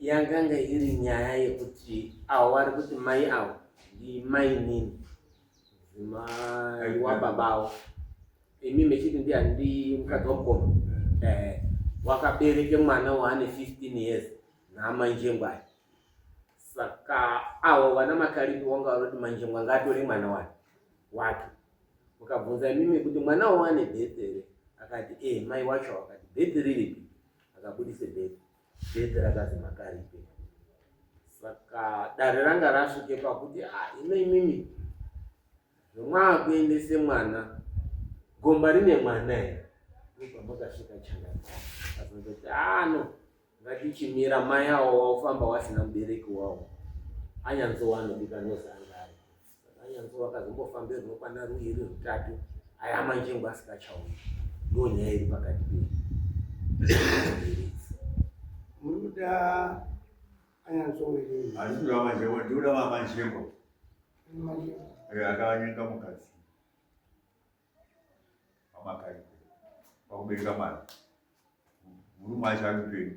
yakanga iri nyaya yekuti avo vari kuti mai avo ndimai nini mai wababa avo imi mechiti ndi handi mukadzi wamukoma eh, wakabereke mwana waane 15 years namanjengwai saka avo vana makaripi wanga vari kuti manjengwa ngaatore mwana wake wake ukabvunza imimi kuti mwana wawane bhetheri akati e mai wacho akati bhetheri ripi akabudise bhedhi bhedhi rakazi makaripe saka dare ranga rasvike pakuti a ah, ino imimi zvomwaakuendese mwana gomba rine mwana here ndopamakasvika chana azozoti ano ah, ngatichimira mai awo waufamba wasina mubereki wawo anyanzowanodika nozanga Anyanzwa vakazombofamba rinokwana ruviri rutatu aya manjengo asikachauyi ndo nyaya iri pakati pedu murikuda anyanzwawereazvinoamanjengo ndikuda vamanjengo akavanyenga mukadzi pamakai pakubereka mwana murume acho ari upenyu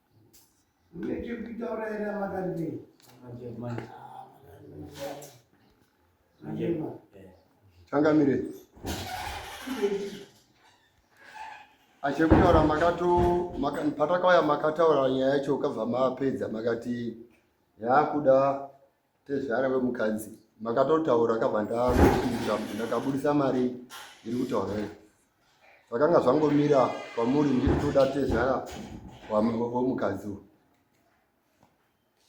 changamire achekutaura makato patakauya makataura nyaya yacho ukabva mapedza makati yakuda Tezvara vemukadzi makatotaura kabva ndakupindura kuti ndakabudisa mari iri kutaura here zvakanga zvangomira kwamuri ndiri toda tezvara vemukadzi uyu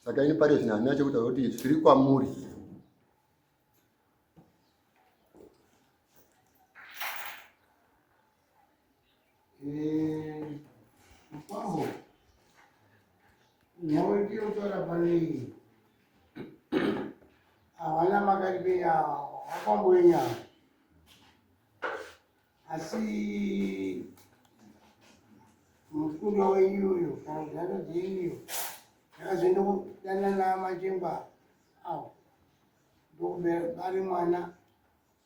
saka ini pari zvino handina chekutaura kuti zviri kwamuri Eh, Paho, nyawo ndiyo tora panei havana makaribe yawo vakamboenyawo asi mukunda wenyu uyo kana kuti nhano dzenyu iyo ndakazoenda kudanana machemba awo ndokubara mwana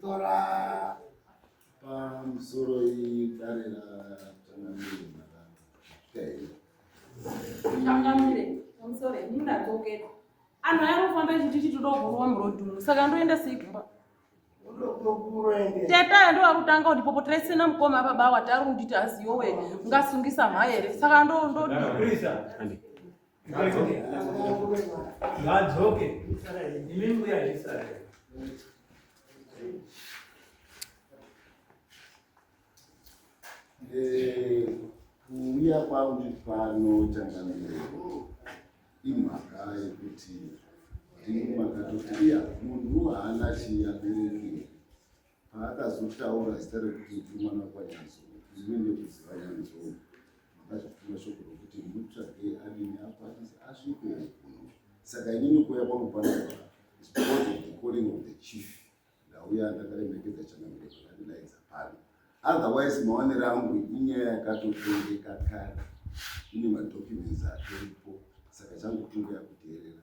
Tora pamusoro idare ratangamire tangamire pamusoro ndinadzokera anhu ayakufamba chiti chitidogorwa murodhumu saka ndoenda seikuba teta ndo akutanga kuti popo taisina mukoma apa bawa tari kunditi aziyowe ngasungisa mhaere saka ndo ndo Ngadzoke. Imi mbuya Israel. Eh, kuuya kwangu pano changamire imhaka yekuti ndingu makatoti iya munhu haana chiabereki Paakazotaura zita rekuti ndiri mwana wakwanyanzo ndine nekuziva nyanzo makazvituma shoko rokuti mutsvage arimi akwanise asvike kuno saka inini kuuya kwangu pano because of the calling of the chief ndauya ndakaremekedza chanamire pakandidaidza pano otherwise maonero angu inyaya yakatotengeka kare ine madocuments atoripo saka changu kungoya kuteerera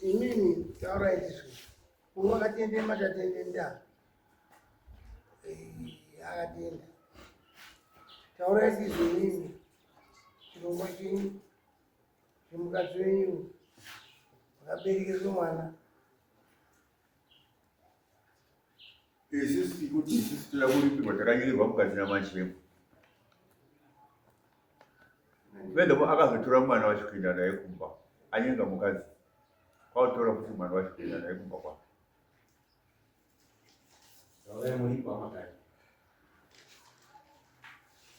Inini taurai izvi. Uwo akatende matatende nda. Eh, akatenda. Taurai izvi inini. Chirongwa chenyu. Chimukadzi wenyu. Akaberekerwa mwana. Isusu tikuti isusu toda kuripirwa takanyorerwa mukati namachemo. Pedhapo akazotora mwana wacho kuenda naye kumba, anyenga mukadzi kwakutora kuti mwana wacho kuenda naye kumba kwake.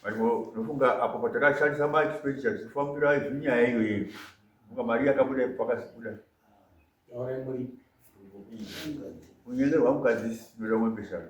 Mariko, nofunga apo patakashandisa mari chipendi chachifambira izvi nyaya iyoyo, funga mari yakabuda ipo pakasibuda unyengerwa mukadzi sinoda mwembeshana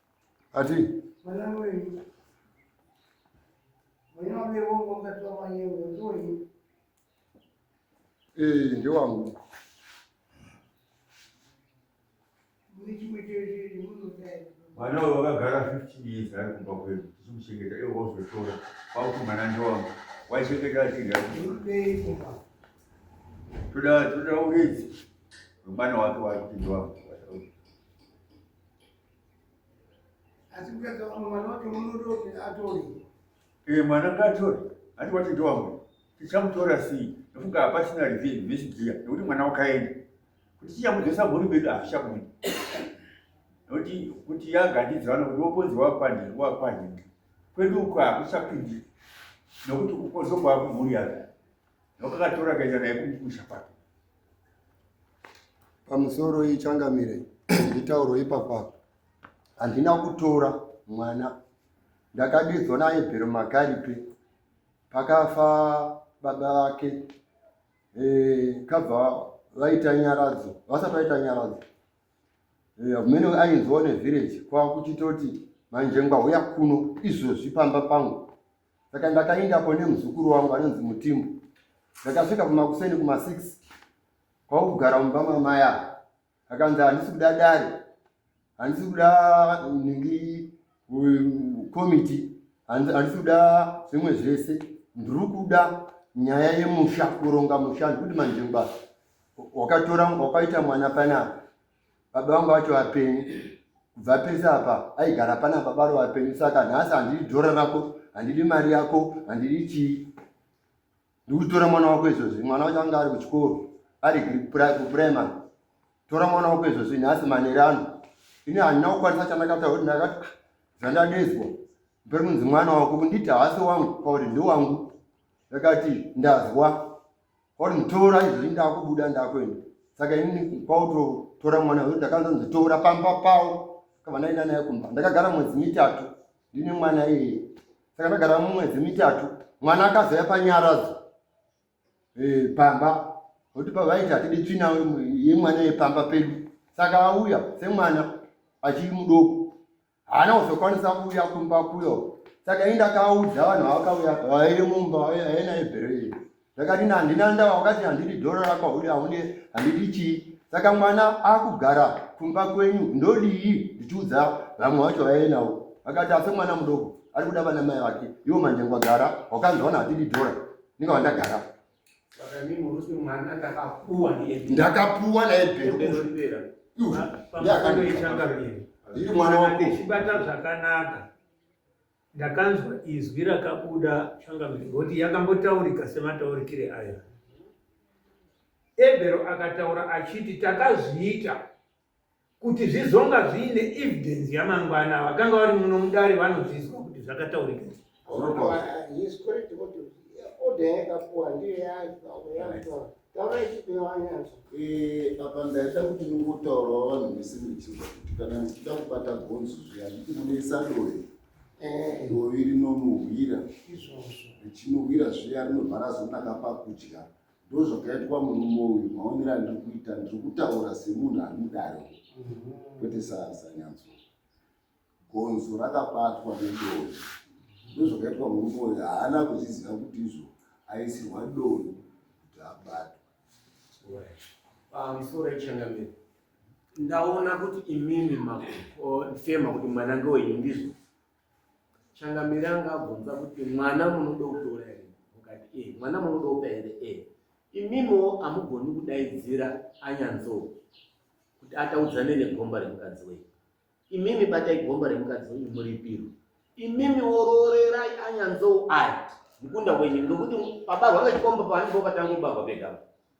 ati ee ndewangu mwana uyo wakagara 15 years ari kumba kwedu tichimuchengeta iwo wazotora kwakuti mwana ndewangu waichengeta achinga toda toda uridzi wemwana wake wari kuti ndewangu asi kuyaka vamwe mwana wacho munodoke atore ee mwana ngaatore hati wati ndowamwe tichamutora sii nofunga hapachina revenge vechigiya nekuti mwana wakaenda kuti chichamudzesa mhuri medu hazvichabundi nokuti kuti yagandidzira vana kuti woponzi wakwani wakwani kwedu uko hakuchapindi nokuti ukozokwaa kumhuri yake Wakakatora kaenda naye kumusha kwake. Pamusoro iyi changamire nditauro ipapa. Handina kutora mwana. Ndakadedzwa naye bhero makaripe. Pakafa baba vake. Eh, kabva vaita nyaradzo. Vasati vaita nyaradzo. Eh, mene ainzwa ne village kwa kuchitoti manje ngwa huya kuno izvozvi pamba pangu. saka ndakaendako nemuzukuru wangu anonzi mutimbo ndakasvika kumakuseni kuma six kwakugara mumba mamai ava akanzi handisi kuda dare handisi kuda ningi komiti handisi kuda zvimwe zvese ndiri kuda nyaya yemusha kuronga musha ndikuti manjengwa wakatora wakaita mwana panapa baba vangu vacho vapenyu kubva pese apa aigara pana baba ro vapenyu saka nhasi handidi dhora rako handidi mari yako handidi chii ndikutora mwana wako izvozvi mwana wacho anga ari kuchikoro ari kuprimary tora mwana wako izvozvi nhasi maneri ano ini handina kukwanisa chandakataura kuti ndakati ah, zvandadezwa mberi kunzi mwana wako kunditi haasi wangu pakuti ndewangu ndakati ndazwa kwauri mutora izvozvi ndakubuda ndakuenda saka inini kwautotora mwana uyu ndakanza nditora pamba pawo kavanaina naye kumba ndakagara mwedzi mitatu ndine mwana iyeye saka ndagara mumwedzi mitatu mwana akazaya panyaradzo eh, pamba kuti pavaiti hatidi tsvina yemwana yepamba pedu saka auya semwana achiri mudoko haana kuzokwanisa kuuya kumba kuyo saka indakaudza vanhu vakauya vairi mumba aena ibhero iri ndakati handina ndava wakati handidi dhoro rakwauri haune handidi chii saka mwana akugara kumba kwenyu ndodii ndichiudza vamwe vacho vaenavo akati ase mwana mudoko ari kuda vana mai vake iwo manjengwagara wakanzwa vanhu vatidi dhora ndinga vandagara ndakapuwa naebhero iri mwana wako ndechibata zvakanaka ndakanzwa izwi rakabuda changamire ngokuti yakambotaurika semataurikire ayo ebhero akataura achiti takazviita kuti zvizonga zviine evidence yamangwana vakanga vari muno mudare vanozvizwa kuti zvakataurika apa ndaida kuti nongotaurawo vanhu vese muchiva kuti kana ndichida kubata gonzo zviya nditi munoisa doe eh. dovi rinonohwira richinohwira zviya rinovhara zonaka pakudya ndozvakaitwa murume uyu maonero andiri kuita ndiri kutaura semunhu ari mudare mhm. kwete sanyanzwa gonzo rakabatwa nedoni ndozvakaitwa murume uyu haana kuzviziva kuti izvo aisirwa doni kuti abatwa pamusoro ichangamiro ndaona kuti imimi mafema kuti mwana ngewenyu ndizvo Changamire anga abvunza kuti mwana munoda kutora here mukati e eh, mwana munoda kupa here e eh, imimo hamugoni kudaidzira anyanzo kuti ataudzane negomba remukadzi wenyu imimi batai gomba remukadzi wenyu muripiro imimi oroorerai anyanzo aya mukunda wenyu nokuti pabarwa vechikomba paanipo patangobarwa pegama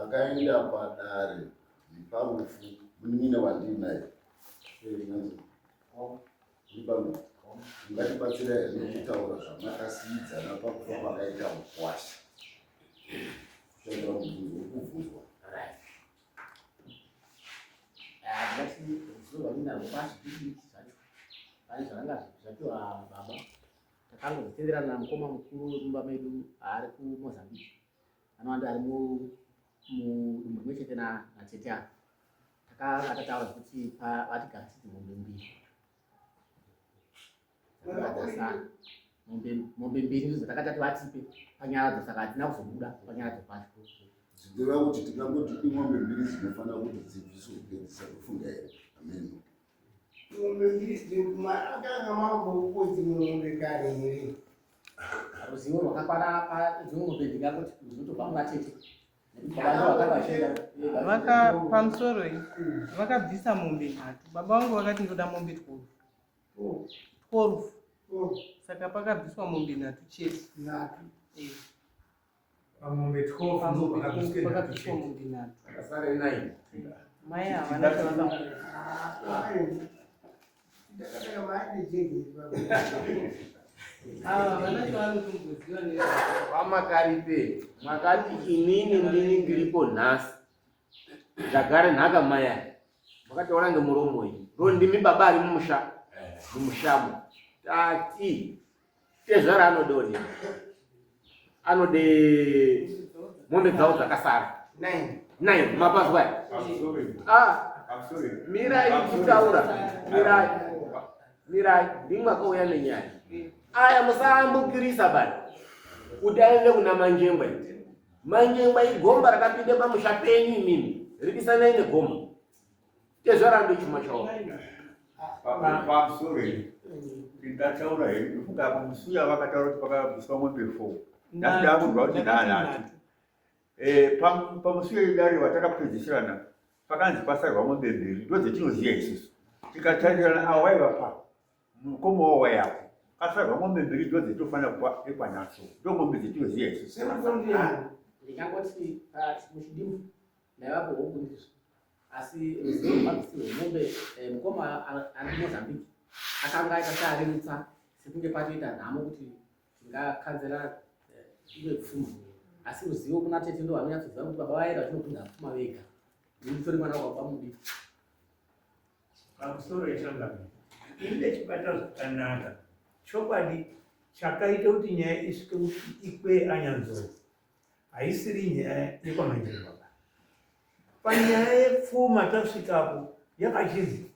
akaenda padare neparufu munin'ina wandinaye ungatibatsira here nekutaura zvamakasiidzana pakufa kwakaita mukwasha kubvunzwa Takangotenderana na mukoma mukuru wemumba medu ari kuMozambique anowanda ari mudumbu rimwe chete natete avo. Takataura kuti vatigara siti mombe mbiri mombe mbiri ndidzo takatati vatipe panyara dzo saka hatina kuzobuda panyara dzo pacho zvichireva kuti tingangoti imombe mbiri dzinofanira kuti dzibviswe kupedzisa kufunga here ameno ruzivo rwakakwana padzimombe ndingakuti ndinotobva muvatete vaka pamusoro iyi vakabvisa mombe nhatu baba vangu vakati ndoda mombe twelve twelve saka pakabviswa mombe nhatu chete nhatu pamombe 12 mai havana vamakaripe makati inini ndini ndiripo nhasi ndagare nhaka maya makataura ngemuromo iyi ndo ndimi baba ari mumusha mumushamo tati tezvara anode onini anode mombe dzawo dzakasara nine mapazwa ah, mirai ichitaura mirai mirai ndimwe akauya nenyaya aya musayambukirisa bani kuti aende kuna manjengwa manjengwa igomba rakapinda pamusha penyu imimi ridisanai negomba tezvara ndechuma chao pamusoro iri ndataura here ndofunga apa musuya vakataura kuti pakabviswa mombe four ndakuda kunzwa kuti ndanhatu eh, pamusuya idari vatakapedzisirana pakanzi pasarwa mombe mbiri ndodzetinoziva isusu tikatarirana avo vaiva pa mukoma wavo waiapo kasarwa mombe mbiri ndodzetinofanira kupa ekwanatso ndo mombe dzetinoziva isusu ndingangoti ah, muchidimu ndaivapo hokundisu asi ruzivo rwemabvisi rwemombe eh, mukoma ari kumozambique akanga aita searerutsa sekunge patoita nhamo kuti tingakanzera eh, ive pfuma asi ruzivo kuna tete ndo vanonyatsoziva kuti baba vaera vatinopinda pfuma vega nditori mwana wababa mudiki pamusoro yechangami ini ndechibata zvakanaka chokwadi chakaita kuti nyaya isvike kuti ikwe anyanzoro haisiri nyaya yekwamanjeri baba panyaya yepfuma tasvikapo yakachinzi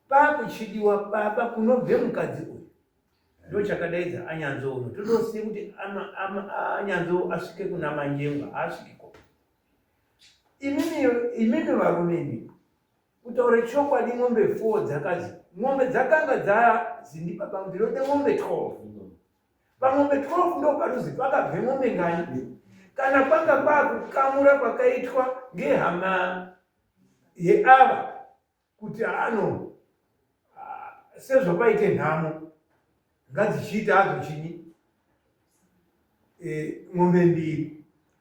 pakuchidiwa baba kunobve mukadzi uyu ndo chakadaidza anyanzo uno todosiye kuti anyanzo asvike kuna manyengo haasvikiko imimi varume imi kutaura chokwadi mombe foo dzakadzi mombe dzakanga dzazindi baba ndinode mombe twelve Pamombe 12 ndo panozi pakabve mombe ngani kana kwanga kwakukamura kwakaitwa ngehama yeava kuti ano ah, sezvapaite nhamo ngadzichiita hadzo chini e, mombe mbiri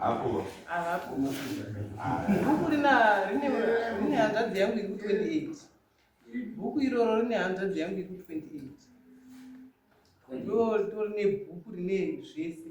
Hapo. Hapo. Hapo lina lina lina hanzadzi yangu iku 28. Bhuku iroro rine hanzvadzi yangu iku 28. Ndo torine bhuku rine zvese.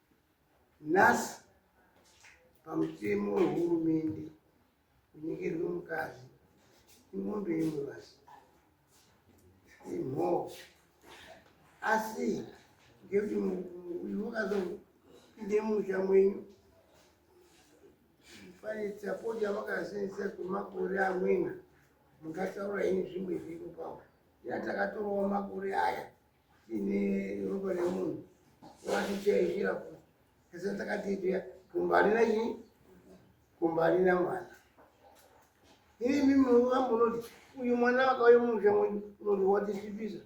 Nhasi pamutemo wehurumende kunyengerwe mukadzi imombe imwe basi imhoo asi ngekuti uyu wakazopinde musha mwenyu pane sapoti yavakasenzesa kwemakore amweni mungataura ini zvimwe zviri papo ina takatorawo makore aya Ini ropa remunhu watichaizvira ku ese takatiitira kumba harina chii kumba harina mwana ini mimi wangu unoti uyu mwana wakauye mumusha mwenyu unoti watisvipisa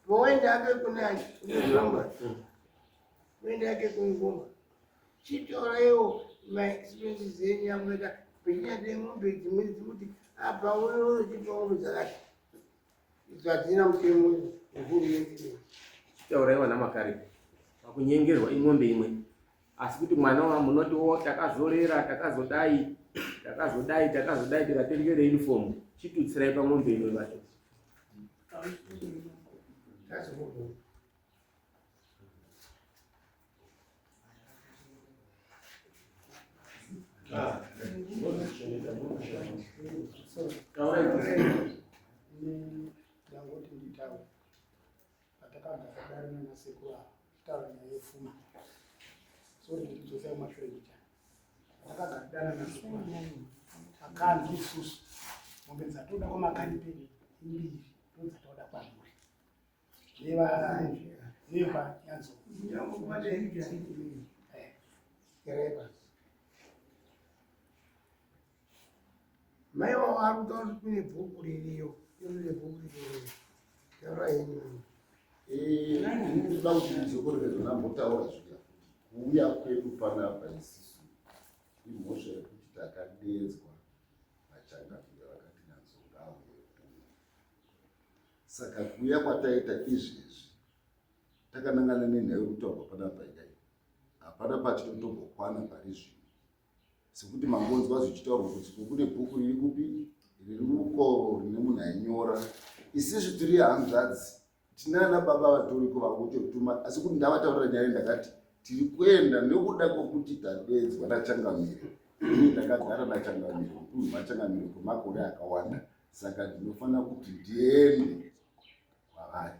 pawaenda ake kune achi unekuramba uenda ake kuikumba chitoraiwo maexpense zenyu yamunoita pechinyade mombe dzimweni dzekuti apa unochipa mombe dzakati Zvatina mutemo wehurumende. Taura iwana makare. Pakunyengerwa ing'ombe imwe. Asi kuti mwana wa munoti wo takazorera takazodai takazodai takazodai tikatengere uniform chitutsirai pamombe imwe vacho. That's what ndangoti nditaure patakabva sadari nanasekuru ava taura nyaya yefuma so ndidzosa kumashure kucha takagaridana nasekuru akanzi isusu mombe dzatoda kwamakanyi pedu mbiri ndodzatoda kwamuri mai wavo ari kutaura kuti kune bhuku ririyo ine bhuku ririyo taura henyu ndinoda kuti ndizokore zona mbotaura zviya kuuya kwedu panapa isisu imhosva yekuti takadedzwa vachangamire vakati nanzongauye kuno Saka kuuya kwataita izvi izvi takanangana nenhau yekutaurwa panapa paidai hapana patiri kutombokwana pari zvino sekuti mangonzwa zvichitaurwa kuti kune bhuku riri kupi riri uko rine munhu ainyora isizvi tiri hanzvadzi tinana baba vatoriko vakutotuma asi kuti ndavataurira nyaya ndakati tiri kuenda nekuda kwekuti tadedzwa nachangamire ini ndakagara nachangamire uku machangamire kwemakore akawanda saka ndinofanira kuti ndiende kwavari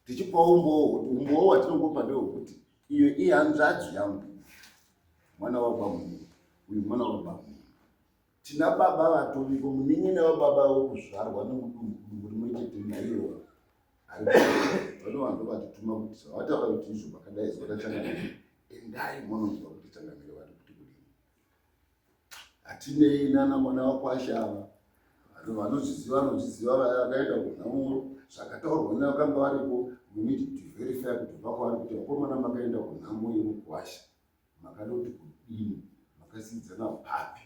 tichipa umbowo kuti umbowo watinongopa ndewekuti iyo ihanzvadzi yangu mwana wabamuni uyu mwana wabamuni tina baba vatoviko muningi nevababa vekuzvarwa nemudumbu dumbu rimwe chete naiwo vanovange vatituma kuti zvavataura kuti izvo vakadai zvakachangamira endai mononzwa kuti changamire vari kuti kudini hatinei nana mwana wakwasha ava vanhu vanozviziva vanozviziva vaya vakaenda kunhamuro zvakataurwa ne vakanga varipo munidi kuti verify kuti vakwavari kuti vakomana makaenda kunhamo yemukwasha makada kuti kudini makasiidzana papi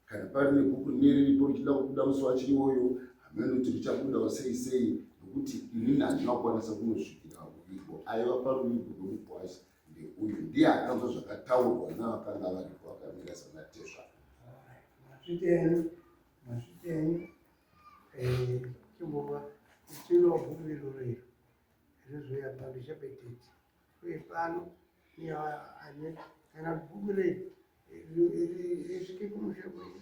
kana pari nebhuku neriripo richida kubuda musi wacho iwoyo hameno kuti richabudawo sei sei nokuti inini handina kukwanisa kunosvikira ruvigo aiva paruvigo rwemukwasha ndeuyu ndiye akanzwa zvakataurwa navakanga varipo vakamira sanatezva masvitenyu masvitenyu eh, chimbova chinohumiro rero rizoya pano chapetete uye pano ane kana bhuku rei risvike kumushe kwenyu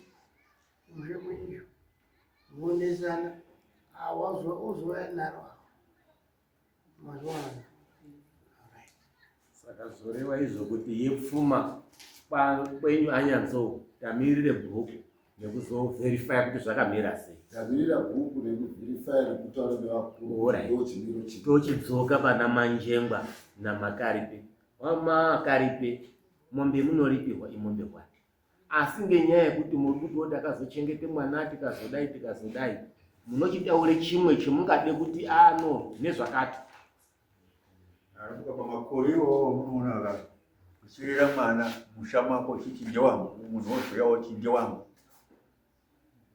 kumushe kwenyu muonesana awazwa ozouya naro saka zvoreva izvo kuti yepfuma kwenyu anyanzo tamirire bhuku nekuzoverifya kuti zvakamira sei tamirira bhuku nekuverifya nekutaura nevakurutochidzoka pana manjengwa namakaripe wamakaripe mombe munoripirwa imombe kwati asi ngenyaya yekuti muri kuti wo takazochengete mwana tikazodai tikazodai munochitaure chimwe chemungade kuti ano ah, nezvakati arabuka pamakore iwowo munoona ka kusirira mwana musha mako uchiti ndewangu munhu wozouya woti ndewangu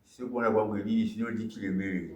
sekuona kwangu inini zvinondichiremerei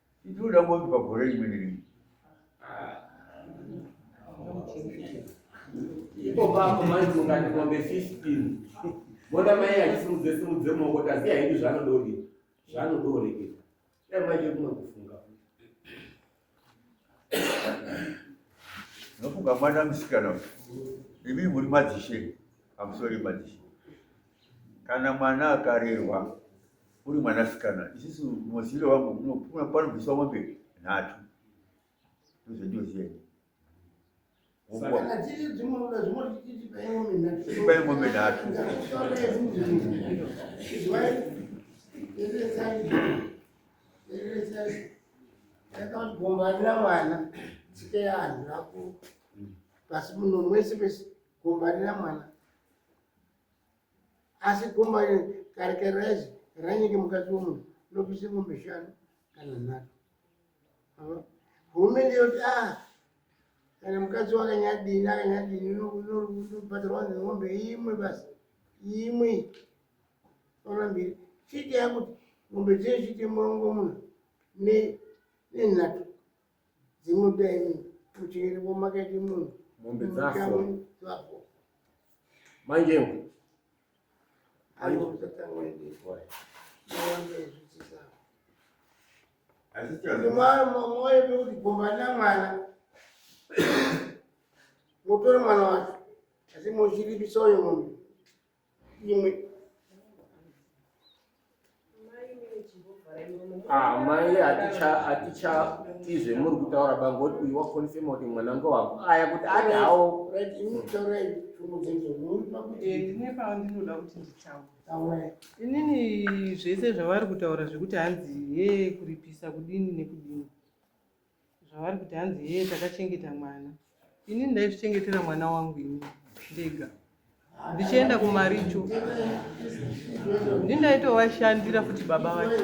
Ndinoda kuti pagore rimwe nerimwe ipo pako manzi ungati mombe 15 mona mai achisimudze simudze maoko taziya hedu zvanodori zvanodoreketa dai manje kumwe kufunga nofunga mwana musikana imi muri madzishe amusori madzishe kana mwana akarerwa uri mwanasikana isisu muziviro wangu panobviswa mombe nhatu ndozvendiozieni ipai mombe nhatu gombanira mwana tsike yanhu rako pasi muno mwese pese gombanira mwana asi gomba karikarazi ranyike mukati womunhu nopise ngombe shanu kana nhatu hurumende yoti a ah, kana mukadzi wakanyadini akanyadini nobhadharwa ngombe imwe basi imwe ona mbiri chiti yakuti ngombe dzee chite murongo muna nenhatu dzimudai muchiri vomakaiti munhu mombe dzafo dzafo manje moyo pekuti gomba na mwana motore mwana wacho asi mochiripisa uyo mombe imwe amai ah, hatichatii zvemuri kutaura bangoti uyu wakonfema kuti mwana ngo wangu aya kuti ati hawo inini zvese zvavari kutaura zvekuti hanzi ye kuripisa kudini nekudini zvavari kuti hanzi hee takachengeta mwana ini ndaizvichengetera mwana wangu ini ndega ndichienda kumaricho ndi ndaitovashandira futi baba vacho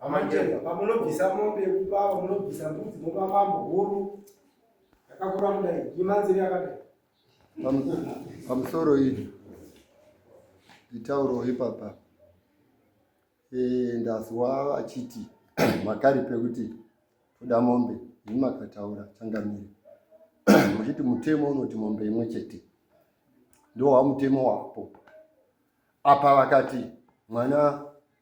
Amajeza pamunobvisa mombe yekupa pamunobvisa mbudzi mopa mambo huru yakakura kudai imanziri yakadai pamusoro izvi nditauro ipapa eh, ndazwa vachiti makari pekuti toda mombe ini makataura changamire muchiti mutemo unoti mombe imwe chete ndowa mutemo wapo apa vakati mwana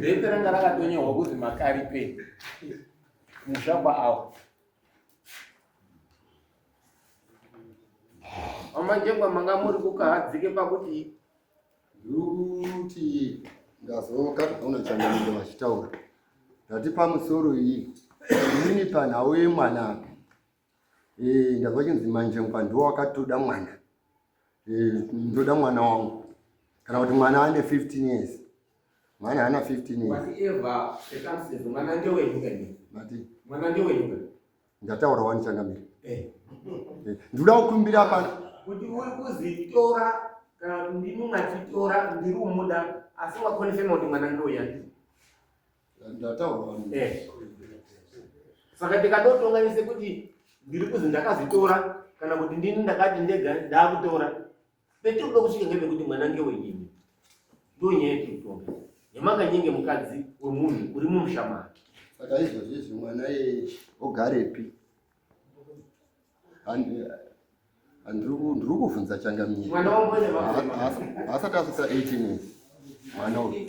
Bepe ranga rakatonyorwa kuti makaripe musha kwaawo amanje kwamanga muri kukahadzike pakuti Ndirikuti ndazoka ndaona changamire vachitaura ndati pamusoro iyi inini panhau yemwana apa eh, ndazwa chinzi manje mpa ndiwo wakatoda mwana eh, ndoda mwana wangu kana kuti mwana ane 15 years mwana haana 15 years mati Ndataura wani changamire. Eh. eh Nduda kukumbira pana. Kuti uri kuzitora kana ndimi mwachitora ndiri umuda asi wakonfirma kuti mwana ndoya. Ndataura wani. Eh. Saka tikadotonganise kuti ndiri kuzi ndakazitora kana kuti ndini ndakati ndega ndakutora Petinoda kusvika ngepekuti mwana ngewenyini ndonyaya yekutonga yamakanyenge mukadzi wemunhu uri mumusha make saka izvozvo izvi mwana iyeye ogarepi ndiri kuvhunza changamira haasati asvika 18 mwana uyu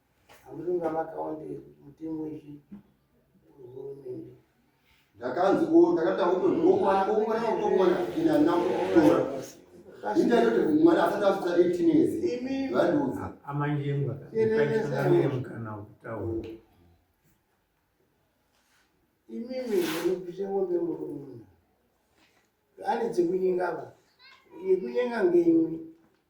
Amuringa makaonde mutemo izvi hurumende. Ndakanzi ko ndakataura kuti ngokwana ngokwana ngokwana ina nakutora. Inda yote mwana asati asvika 18 years. Imi vanduza. Amanjengwa. Ndakachanganya mukana wokutaura. Imimi ndinopisa ngombe murume. Ani dzekunyengava. Yekunyenga ngeimwe.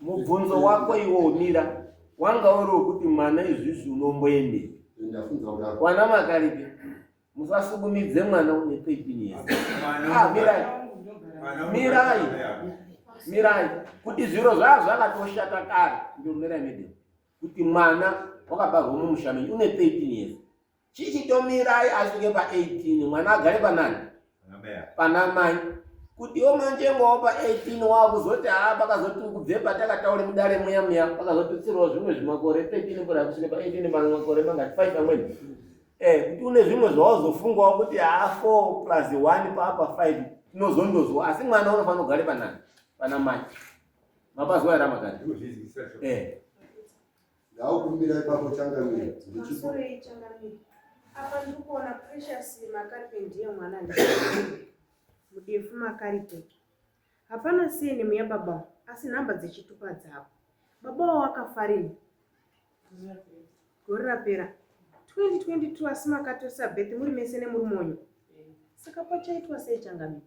mubvunzo wako iwo umira wanga uri wekuti mwana izvizvi unomboende kwana makaripi musasukumidze mwana une thirteen years ah, mirai mirai mirai kuti zviro zvaa zvakatoshata kare ndiomirai mede kuti mwana wakabarwa mumusha menyu une thirteen years chichitomirai asvike pa 18 mwana agare panani pana mai kutiwo manjengowo pa 18 waakuzoti haa pakazoti ukubve patakataure mudare muya muya pakazotutsirwa zvimwe zvimakore 13 kura kusvike pa 18 makore mangati 5 amweni eh kuti une zvimwe zvawazofungawo kuti haa 4 plus 1 paapa 5 tinozondozwa asi mwana unofanira kugare panani pana mai mapazwa yaramakati eh Ndaukumbira ipapo changamira. Masorei changamira. Apa ndiri kuona Precious Makaripe ndiye mwana mudefu Makaripe. Hapana siyeni muya baba asi nhamba dzechitupa dzavo. Baba wavo akafarini gore rapera 2022 asi makatorisa birth muri mese nemurume wenyu saka pachaitwa sei changamira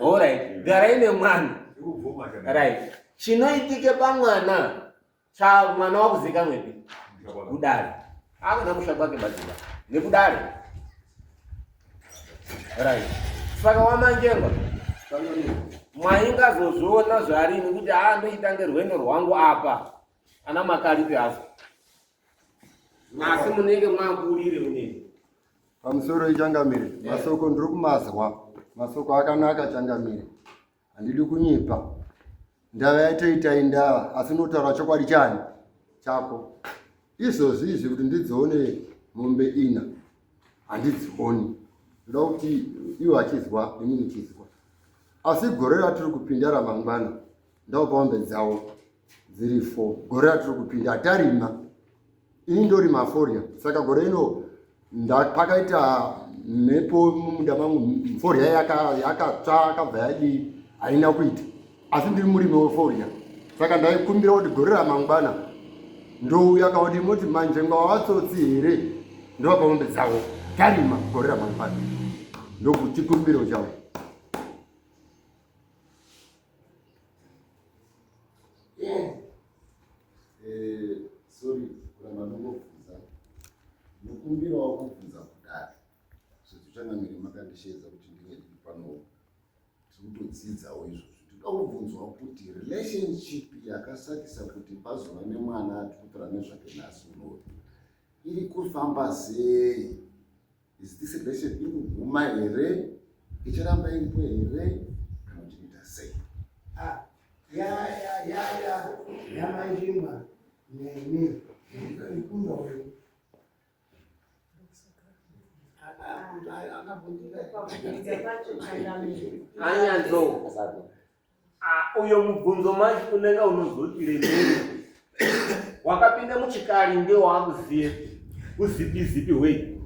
Alright, garai nemwana. Right. Chinoitike pamwana cha mwana wakuzika mwepi? Kudari. Akuna kusha kwake baziva. Nekudari. Right. Saka wamanjengwa. Mwaingazozviona zvarini kuti haa ndoita ngerwendo rwangu apa. Ana makaripi hazo. asi munenge makurire kunene pamusoro ichangamire eh. masoko ndiri kumazwa masoko akanaka changamire handidi kunyipa ndava yatoita indava asi unotaura chokwadi chani chako izvozvi izvi kuti ndidzione mombe ina handidzioni ndoda kuti iwo achizwa ini ndichizwa asi gore ratiri kupinda ramangwana ndopombe dzawo dziri four gore ratiri kupinda hatarima ini ndorima forya saka gore ino pakaita mhepo mumunda mangu forya yakatsva yakabva yadii haina kuita asi ndiri murimi weforya saka ndaikumbira kuti gore ramangwana ndouya kauti moti manje ngavatsotsi here ndovapa mombe dzavo tarima gore ramangwana ndokuchikumbiro chavo Yes. Eh, sorry, kuna manungo kufunza. Nukumbira wa kufunza kudari. So tuchanga miri makandishedza kuti ndinge ndi pano. Tikuto dzidza wo izvo. Tuka kubvunzwa kuti relationship yakasakisa kuti pazova nemwana atukutora nezvake nasu no. Iri kufamba sei? Is this relation inoguma here? Icharamba iripo here? Kana kuti ita sei? Ah, ya ya ya ya ya maizvimba nemi ikunda wewe anyanzo Ah, uyo mubvunzo manje unenge unozoti remere wakapinda muchikari nge waakuziye uzipi zipi hwei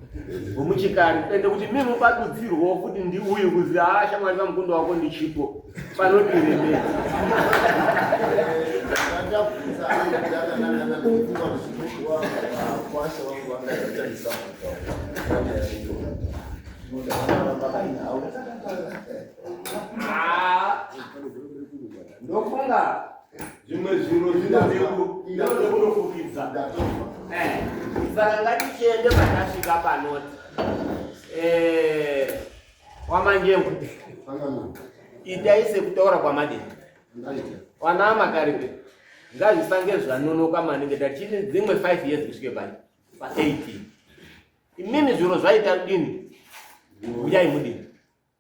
hwemuchikari ende kuti mi mupadudzirwawo kuti ndi uyu kuzi haa ah, shamwari pamukunda wako ndi chipo panoti remere Thank you. Ah, ndofunga zvimwe zvinhu zvinazvekunofukidza eh, saka ngatichiende patasvika panoti eh, wamanjembo itai sekutaura kwamadini wanaa makaripe ngazvisange zvanonoka maningi tachiti dzimwe five years kusvike pai pa18 imimi zviro zvaita kudini uyai mudini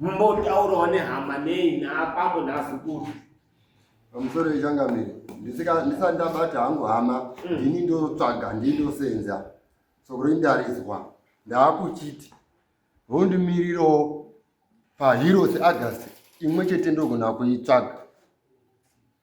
mumbotaurawo nehama nei naapambo naazukuru pamusoro yechangamire ndisati ndabata hangu hama mm. ndini ndotsvaga ndini ndosenza sokuri ndarizwa ndaakuchiti hondimirirawo paheroes august imwe chete ndogona kuitsvaga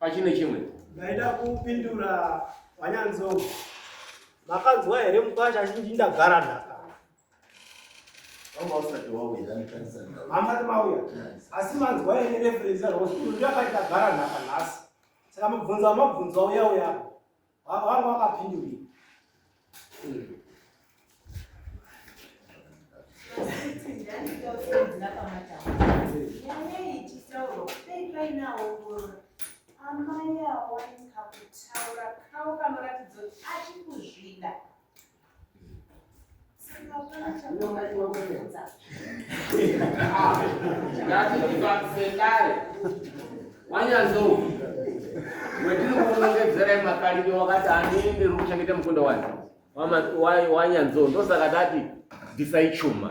pachine chimwe ndaida kupindura vanyanzou makanzwa here mukwasha achinji ndagara nhaka hamati mauya asi manzwa here referensi yarosndiyakaita gara nhaka nhasi saka mubvunzo wamabvunzo wauya uyapo Baba wangu akapindura. Amai awanika kutaura kawo kanoratidza kuti achikuzvida. ngatiivakusekare wanyanzou wetiri kuunongedzera imakarimi wakati andini ndiri kuchengeta mukunda wani wanyanzou ndosaka tati bvisai chuma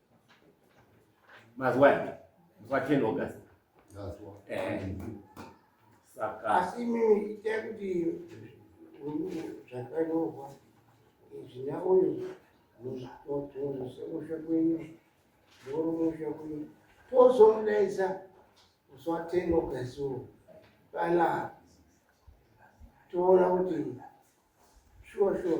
Mazwani. Kwa 10 August. Mazwa. Eh. Saka. Asi mimi itakuti zvakanyorwa izina uyu mutotorese musha kwenyu moro musha kwenyu tozomudaidza zwa 10 August uwo pala toona kuti shuwa shuwa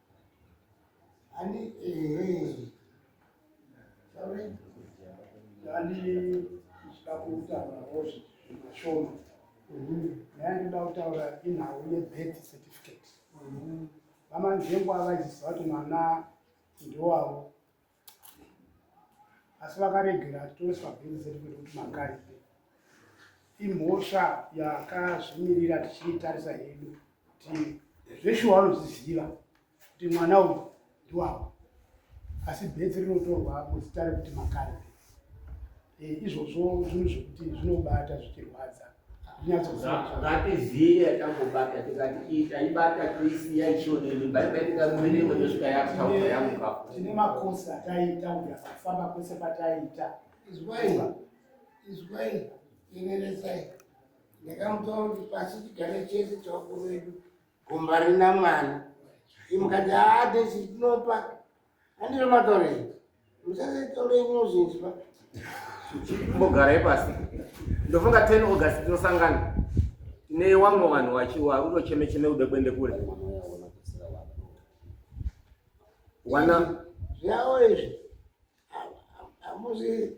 Ani eh Sorry. Ani sikakuta rozi mashoma. Mhm. Nani dauta ora ina uye birth certificate. Mhm. Vamanje ngwa vajisato mwana ndiwawo. asi vakaregera atoiswa bhiri zedu kwedu kuti makaipe imhosva yakazvimirira tichiitarisa hedu kuti zveshuwa vanozviziva kuti mwana uyu ndiwavo asi bhedzi rinotorwa muzita rekuti makaipe Eh, izvozvo zvinhu zvekuti zvinobata zvichirwadza ngatizive yatambobata tikati iyi taibata toisiya ichionenimba ibaitikamumenemo yosvika yataura yamuka tine makosi ataiita uya kufamba kwese pataiita izwai izwai ineresai ndakamutora kuti pasi tigare chese chakuru vedu gomba rina mwana imukati haa ah, tesi tinopa Andire matore. Musaze tore ino zhinji pa. Mbogara ipasi. Ndofunga 10 August tinosangana. Ne wamwe vanhu wachiwa uno cheme cheme ude kuende kure. Wana. Zvawo izvi. Amuzi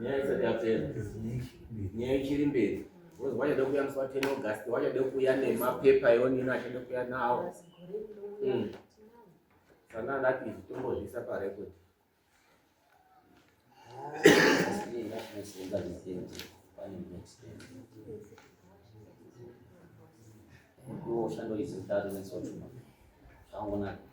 nyaya isati yapera nyaya ichiri mberi wachada kuuya musi wa 10 august wachada kuuya nemapepa eonini achada kuuya nawo hmm. sana andati izvi tombozvisa parekodi kuoshando izi mutatu nesochuma zvaonaka